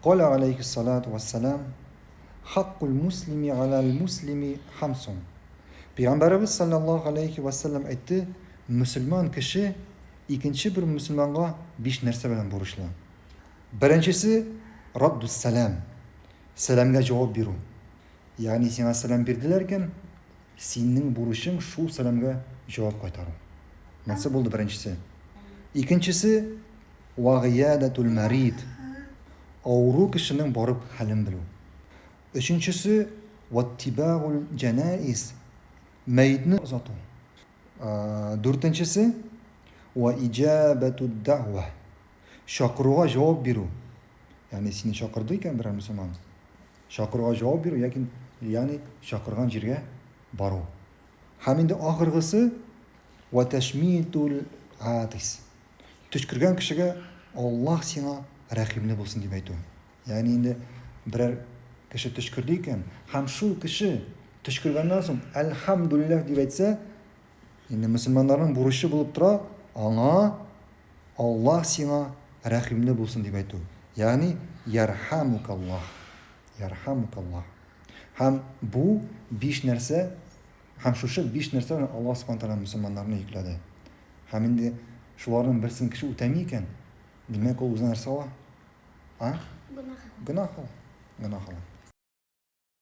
Калә аләйһиссалату вәссәлам, Хаккул муслими галәл муслими хамсун. Пәйгамбәребез салләллаһу аләйһи вә сәлләм әйтте, мөселман кеше икенче бер мөселманга биш нәрсә белән бурычлы. Беренчесе, раддус сәлам, сәламгә җавап бирү. Ягъни сиңа сәлам бирделәр икән, синең бурычың шул сәламгә җавап кайтару. Монсы булды беренчесе. Икенчесе, Вагыйядәтүл мәрид, авыру кешенең барып хәлен белү. Өченчесе, ваттибәгүл җәнаиз, мәетне озату. Дүртенчесе, ва иҗабәтүд дәгъва, чакыруга җавап бирү. Ягъни сине чакырды икән берәр мөселман, чакыруга җавап бирү, яки, ягъни чакырган җиргә бару. Һәм инде ахыргысы, ва тәшмитүл атис. Төчкергән кешегә Аллаһ сиңа рәхимле булсын дип әйтү. Ягъни инде берәр кеше төчкерде икән, һәм шул кеше төчкергәннән соң әлхәмдүлилләһ дип әйтсә, инде мөселманнарның бурычы булып тора, аңа Аллаһ сиңа рәхимле булсын дип әйтү. Ягъни ярхамукаллаһ. Ярхамукаллаһ. Һәм бу биш нәрсә Һәм шушы биш нәрсәне Аллаһ Субхана Тәгалә мөселманнарны йөкләде. Һәм инде шуларның берсен кеше үтәми икән, димәк, ул үзенә нәрсә ала? А? Гөнаһ ала. Гөнаһ ала.